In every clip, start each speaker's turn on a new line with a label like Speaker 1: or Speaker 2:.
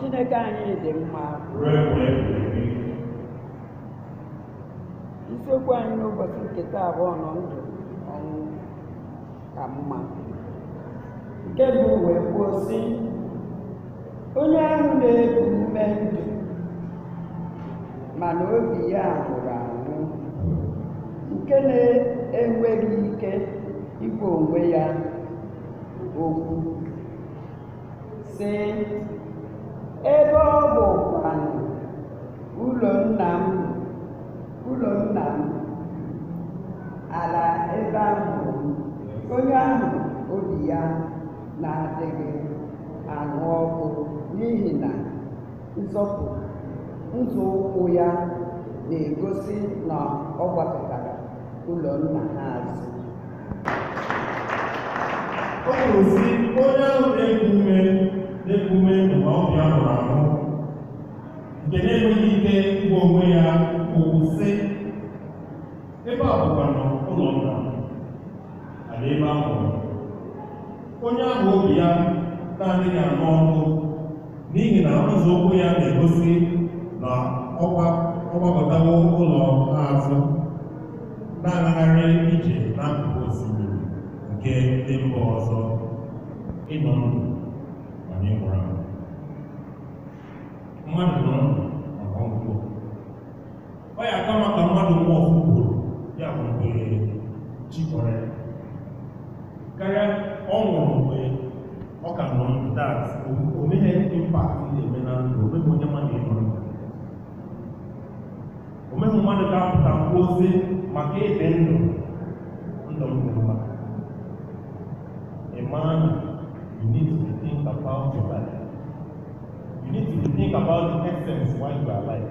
Speaker 1: Chineke anyị dị mma isiokwu anyị n'ụbọchị nke taa bụ ọ nọ ndụ ọnwụ ka mma nke bụ wee kwuo sị onye ahụ na-eku ume ndụ mana obi ya nwụrụ anwụ nke na-enweghị ike ịgwa onwe ya okwu sị ebe a bụ kwanụ ụlọ nna m ụlọ nna m ala ebe a mụrụ onye ahụ obi ya na-adịghị anụ ọkụ n'ihi na nzọpụ nzọụkwụ ya na-egosi na ọ gbakụtara ụlọ nna ha azụ Ọ kwuru sị onye ahụ na-eku ume na-eku ume ndụ mana obi ya nwụrụ anwụ nke na-enweghị ike ịgwa onwe ya okwu sị ebe a bụkwanụ ụlọ nna m ala ebe a mụrụ onye ahụ obi ya na-adịghị anụ ọkụ n'ihi na nzọụkwụ ya na-egosi na ọ gba- ọ gbakụtawo ụlọ ha azụ na-agagharị ije n'akụkụ osimiri nke ndị mba ọzọ ị nọ ndụ mana ị nwụrụ anwụ mmadụ nọ ndụ ọ ya aka mma ka mmadụ nwụọ ofu ugboro ya bụ mgbe chi kpọrọ ya karịa ọ nwụrụ mgbe ọ ka nọ ndụ that o nweghị impact ị na-eme na ndụ o nweghị onye ma na ị nọ ndụ o nweghị mmadụ ga-apụta kwuo sị maka ịdị ndụ ndụ m dị mma ị ma na you need to think about your life you need to think about the essence why you are alive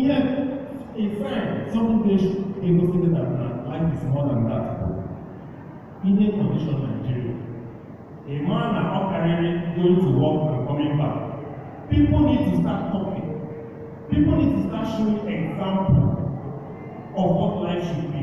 Speaker 1: ihe ife somebody egosi gị na life is more than that bụ ihe condition Nigeria ị mara na ọ karịrị going to work and coming back people need to start talking people need to start showing example of what life should be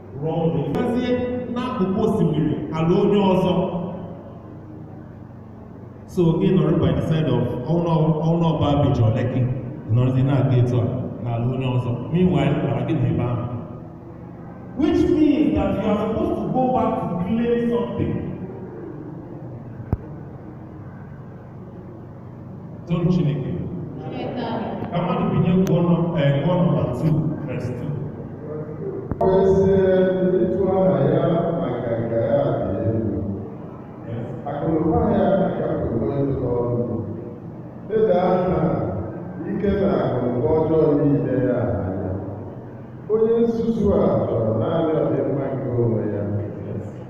Speaker 1: rụọ ụlọ gazie n'akụkụ osimiri ala onye ọzọ so gị nọrọ by the side of ọ bụ na Bar Beach or Lekki nọrọzi na-aga etu a n'ala onye ọzọ meanwhile mara gị na ebe ahụ which means that you are supposed to go back to claim something Toonu Chineke. Ka mmadụ binie gụọ nọ ee gụọ nọmba 2 verse 2. Ọ bụ ezie na ịtụ aha ya na nganga ya dị elu, akụnụba ya ka bụ onye ụlọ ọrụ. Leda aha ike na akụnụba ọjọọ niile ya anya. Onye nzuzu a chọrọ naanị ọdịmma nke onwe ya.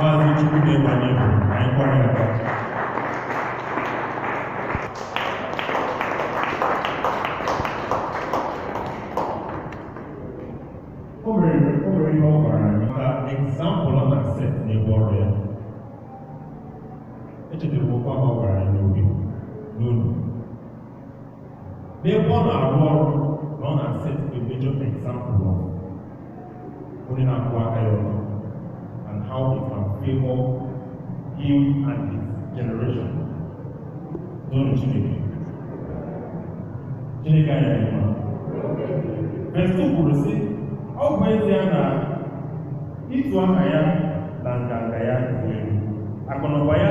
Speaker 1: Maazị Chukwu na-ebanye bụ anyị kwara ya aka. O nwere o nwere ihe ọ gwara anyị maka example ọ na-aset n'ebe ọrụ ya. Echetara m okwu ahụ ọ gwara anyị n'obi n'olu. n'ebe ọ na-arụ ọrụ na ọ na-aset a major example of onye na-akwụwa aka ya ọtọ and how he can favor him and his generation toonu Chineke Chineke anyị dị mma verse 2 kwuru sị ọ bụ ezie na ịtụ aha ya na nganga ya dị elu akụnụba ya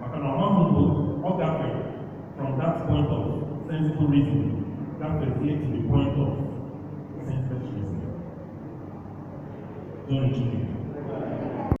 Speaker 1: maka na ọ maghị mgbe ọ gafere from that point of sensible reason gafezie to the point of senseless reason. Don't you?